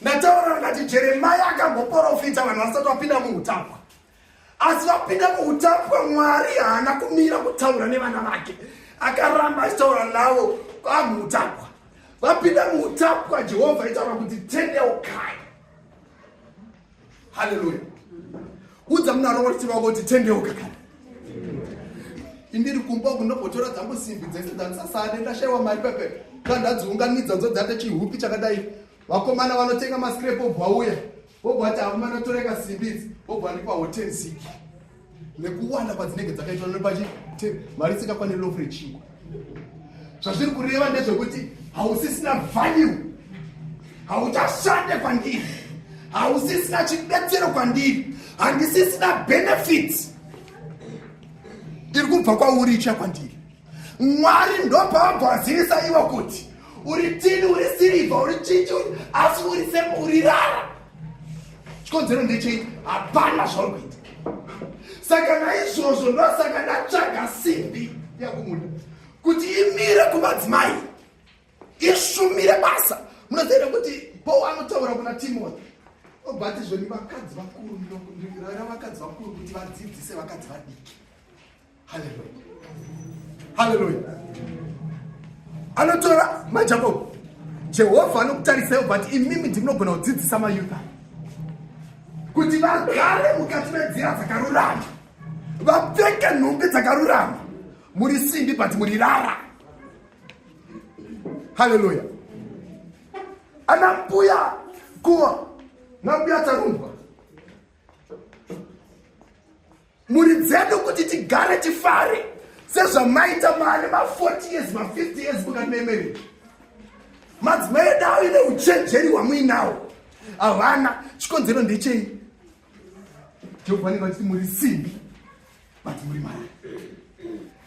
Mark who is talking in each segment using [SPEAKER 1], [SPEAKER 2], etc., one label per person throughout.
[SPEAKER 1] Ndataura ndikati Jeremia akamboporofita vanhu vasati vapinda muutapwa. Asi vapinda muutapwa Mwari haana kumira kutaura nevana vake. Akaramba achitaura navo kwamuutapwa. Vapinda muutapwa Jehovha itaura kuti tendeukai. Hallelujah. Udza munaro wati wako tendeuka kana. Indiri kumba kunopotora dzangu simbi dzese dzandisasade ndashaiwa mari pepe. Kandadziunganidza ndodzate chihupi chakadai. vakomana vanotenga mascrap obva uya obva ati akomana toreka simbi idzi obva andipa hotel ziki nekuwanda kwadzinenge dzakaitwa nepachi mari isikakwaniri lofu rechingwa zvazviri kureva ndezvekuti hausisina value hauchashande kwandiri hausisina chibetsero kwandiri handisisina benefits iri kubva kwauri ichiya kwandiri mwari ndopavagoazivisa ivo kuti uri tini uri sirivha uri chichi asi uri semuri rara chikonzero ndechei hapana zvauri kuita saka naizvozvo ndosaka ndatsvaga simbi yakumuda kuti imire kumadzimai ishumire basa munoziva kuti paul anotaura kuna timothy obatizveni vakadzi vakuru ndiraira vakadzi vakuru kuti vadzidzise vakadzi vadiki haleluya haleluya anotora majakobo jehovha anokutarisai but imimi ndimunogona kudzidzisa mayudha kuti vagare mukati menzira dzakarurama vapfeke nhumbi dzakarurama muri simbi but muri rara haleluya ana mbuya kuwa na mbuya tarumbwa mhuri dzedu kuti tigare tifare sezvamaita maane ma40 years ma50 years mukamemerei madzimai edu avo ine uchenjeri hwamuinawo havana chikonzero ndechei jehovha vanenge vachiti muri simbi but muri mari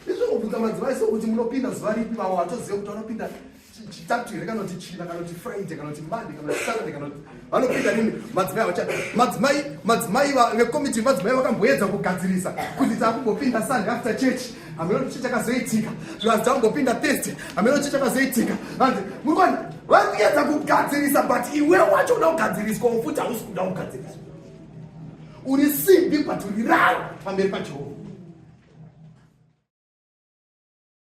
[SPEAKER 1] izvongobvunza madzimai sokuti munopinda zuva ripi vavo vatozive kuti vanopinda chitatu here kana kuti china kana kuti friday kana kuti monday kana kuti saturday kana kuti vanopinda nini madzimai avachati madzimai madzimai vekomiti madzimai vakamboedza kugadzirisa kuti takungopinda sunday after church hameno kuti chichakazoitika zvivanzi takungopinda thursday hameno kuti chichakazoitika vanzi muri kuona vari kuedza kugadzirisa but iwe wacho uda kugadziriswa wofuti hausi kuda kugadziriswa uri simbi but uri raro pamberi pajehovha